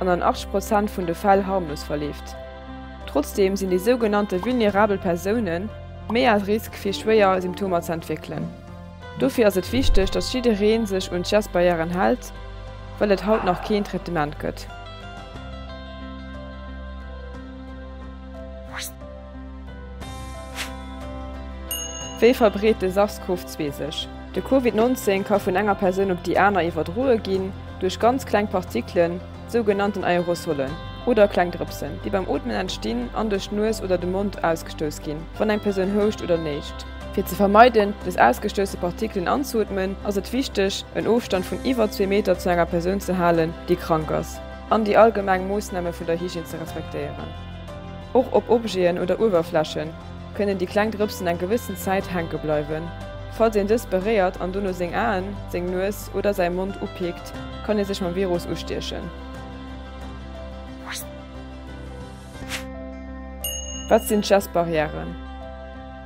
an an 80 Prozent vun de Fäll harmlos verleeft. Trotzdeem sinn déi sougenannte vulnerabel Persoune méi à risque fir schwéier Symptomer ze entwéckelen. Dofir ass et wichteg, datt jidderee sech un d'Gestbarrièren hält, well et haut nach keen Traitement gëtt. Wéi verbreet de SARS-CoV-2 sech? De Covid 19 ka vun enger Persoun op déi aner iwwerdroe ginn duerch ganz kleng Partikelen, sougenannten Aerosolen, oder kleng Drëpsen, déi beim Ootmen entstinn an duerch d'Nues oder de Mond ausgestouss ginn, wann eng Persoun houscht oder néscht. Fir ze vermeiden, des ausgestousse Partikelen anzeootmen, ass et wichteg, en Ofstand vun iwwer zwee Meter zu enger Persoun ze halen, déi krank ass, an déi allgemeng Moossname vun der Hygiène ze respektéieren, och op Objeten oder Uewerflächen, kënnen déi kleng Drëpsen eng gewëssen Zäit hänke bleiwen. Falls een dës beréiert an dono seng Aen, seng Nues oder säi Mond upikt, kann ee sech mam Virus ustiechen. Wat sinn d'Schessbarrièren?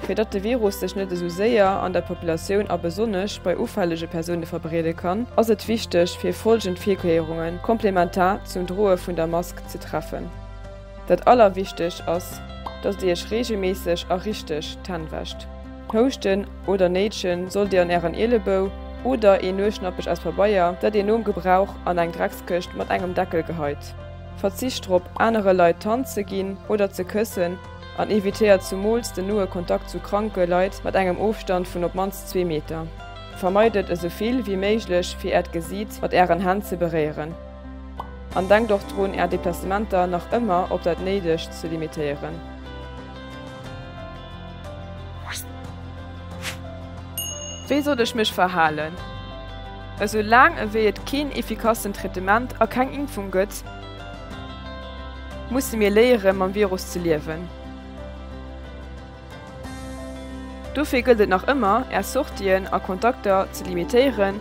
Fir datt de Virus sech net esou séier an der Populatioun a besonnesch bei ufällege Persoune verbreede kann, ass et wichteg, fir folgend Virkéierungen komplementar zum Droe vun der Mask ze treffen. Dat allerwichteg ass, dass dir iech regelméisseg a richteg d'Hänn wäscht. Houschten oder néitschen sollt dir an ären Ielebou oder een Nueschnappech aus Pabeier, dat dir nom Gebrauch an eng Dreckskëscht mat engem Deckel geheit. Verzicht drop, anere Leit d'Hand ze ginn oder ze këssen an evitéiert zumools den noe Kontakt zu kranke Leit mat engem Ofstand vun op mannst zwee Meter. Vermeidet esou vill wéi méiglech, fir äert Gesiit mat ären Hänn ze beréieren. An denkt och drun Är Deplacementer nach ëmmer op dat néidegst ze limitéieren. Wéi soll ech mech verhalen? Esou laang ewéi et keen effikassen Traitement a keng Impfung gëtt, musse mir léieren mam Virus ze liewen. Dofir gëllt et nach ëmmer Är Sortien a Kontakter ze limitéieren.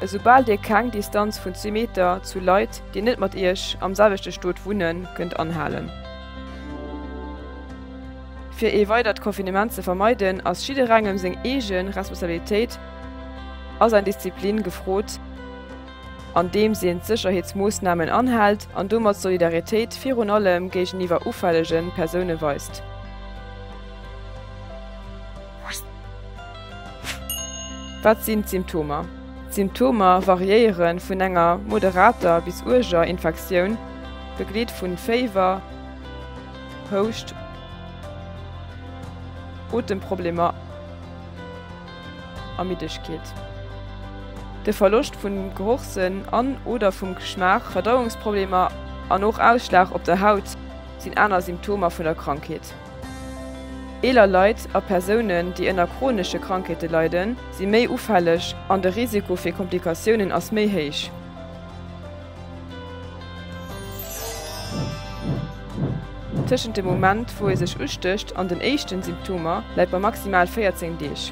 Esoubal dir keng Distanz vun zwee Meter zu Leit, déi net mat iech am selwechte Stot wunnen, kënnt anhalen. Fir ee weidert Confinement ze vermeiden, ass jidderengem seng eege Responsabilitéit a säin Disziplin gefrot, andeems een d'Sécherheetsmoossnamen anhält an domat Solidaritéit virun allem géigeniwwer ufällege Persoune weist. Wat sinn d'Symptomer? D'Symptomer variéiere vun enger moderater bis uerger Infektioun, begleet vu Féiwer, Houscht, Otemproblemer a Middegkeet. De Verloscht vum Gerochssënn an, oder vum Geschmaach, Verdauungsproblemer an och Ausschlag op der Haut sinn aner Symptomer vun der Krankheet. Eeler Leit a Persounen, déi ënner chronesche Krankheete leiden, si méi ufälleg an de Risiko fir Komplikatiounen ass méi héich. Tëschent dem Moment, wou ee sech ustécht an den éischten Symptomer läit bei maximal 14 Deeg.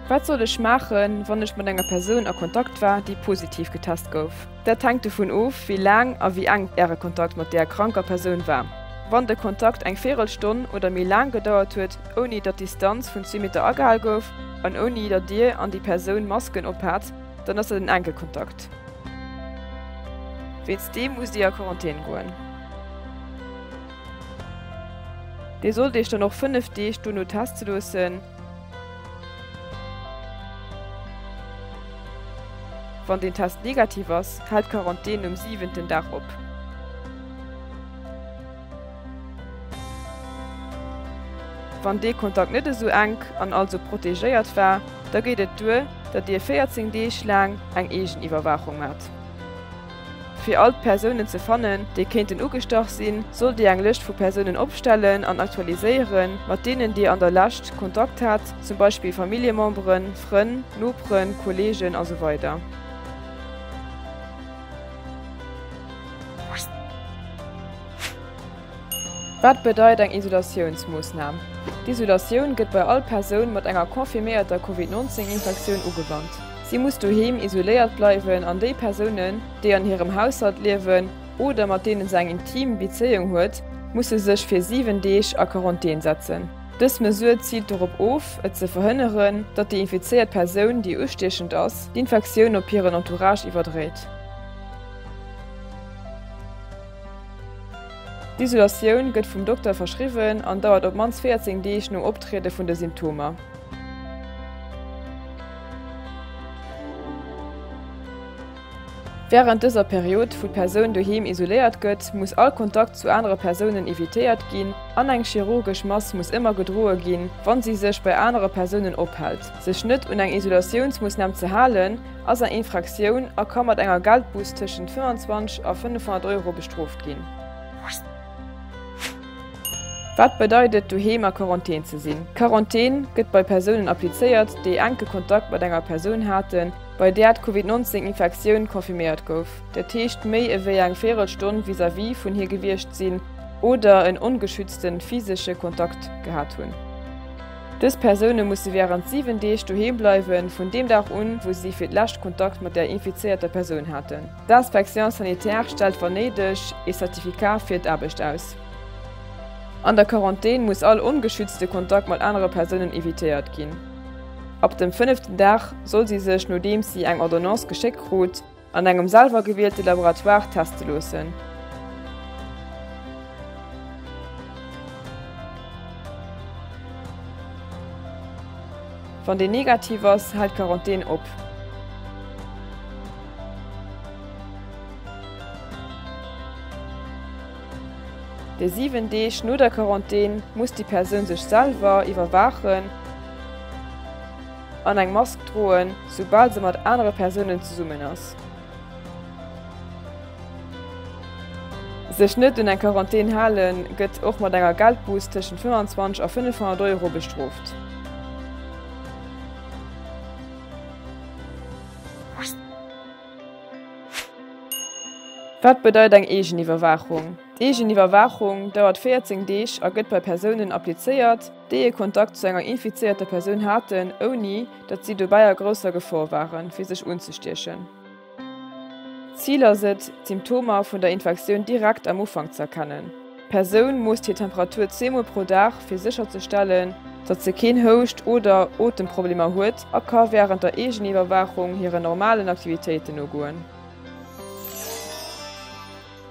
Wat soll ech maachen, wann ech mat enger Persoun a Kontakt war, déi positiv getest gouf? Dat hänkt dovun of, wéi laang a wéi enk Äre Kontakt mat där kranker Persoun war. Wann de Kontakt eng Virelstonn oder méi laang gedauert huet, ouni datt d'Distanz vun zwee Meter agehal gouf an ouni datt Dir an déi Persoun Masken ophat, dann ass dat en enke Kontakt. Wéinst deem musst Dir a Quarantän goen. Dir sollt Iech dann och fënnef Deeg dono teste loossen. Wann den Test negativ ass, hält d'Quarantän um siwenten Dag op. Wann dee Kontakt net esou enk an also protegéiert war, da geet et duer, datt Dir 14 Deeg laang eng Eegeniwwerwaachung maacht. Fir all d'Persounen ze fannen, déi kéinten ugestach sinn, sollt Dir eng Lëscht vu Persounen opstellen an aktualiséieren, mat deenen Dir an der Lescht Kontakt hat, zum Beispill Familljememberen, Frënn, Noperen, Kolleegen a sou weider. Wat bedeit eng Isolatiounsmoossnam? D'Isolatioun gëtt bei all Persoun mat enger confirméierter Covid-19-Infektioun ugewannt. Si muss doheem isoléiert bleiwen an déi Persounen, déi an hirem Haushalt liewen oder mat deene se eng intim Bezéiung huet, musse sech fir 7 Deeg a Quarantän setzen. Dës Mesure ziilt dorop of, et ze verhënneren, datt déi infizéiert Persoun, déi ustiechend ass, d'Infektioun op hiren Entourage iwwerdréit. D'Isolatioun gëtt vum Dokter verschriwwen an dauert op d'mannst 14 Deeg nom Optriede vun de Symptomer. Wärend dëser Period, wou d'Persoun doheem isoléiert gëtt, muss all Kontakt zu anere Persounen evitéiert ginn an eng chirurgesch Mask muss ëmmer gedroe ginn, wa si sech bei anere Persounen ophält. Sech net un eng Isolatiounsmoossnam ze halen, ass eng Infraktioun a ka mat enger Geldbuss tëschent 25 a 500 Euro bestrooft ginn. Wat bedeit et, doheem a Quarantän ze sinn? D'Quarantän gëtt bei Persounen applizéiert, déi enke Kontakt mat enger Persoun haten, bei där d'Covid 19 Infektioun confirméiert gouf, dat heescht méi ewéi eng véierel Stonn vis-à-vis vun hir gewiescht sinn oder en ongeschützte physesche Kontakt gehat hunn. Dës Persoune musse wärend 7 Deeg doheem bleiwe vun deem Dag un, wou si fir d'lescht Kontakt mat der infizéierter Persoun haten. D'Inspection sanitaire stellt wann néideg ee Certificat fir d'Aarbecht aus. An der Quarantän muss all ongeschützte Kontakt mat anere Persounen evitéiert ginn. Ab dem fënneften Dag soll si sech, nodeems si eng Ordonnance geschéckt krut, An engem selwer gewielte Laboratoire teste loossen. Wann deen negativ ass, hält d'Quarantän op. Déi 7 Deeg no der Quarantän muss déi Persoun sech selwer iwwerwaachen. an eng Mask droen, soubal se mat anere Persounen zesummen ass. Sech net un eng Quarantän halen, gëtt och mat enger Geldbuuss tëschent 25 a 500 Euro bestrooft. Wat bedeit eng Eegeniwwerwaachung? D'Eegeniwwerwaachung dauert 14 Deeg a gëtt bei Persounen applizéiert, déi ee Kontakt zu enger infizéierter Persoun haten, ouni datt si dobäi a grousser Gefor waren, fir sech unzestiechen. D'Zil ass et, d'Symptomer vun der Infektioun direkt am Ufank ze erkennen. D'Persoun moosst hir Temperatur zweemol pro Dag, fir sécherzestellen, datt se keen Houscht oder Otemproblemer huet a ka wärend der Eegeniwwerwaachung hiren normalen Aktivitéiten nogoen.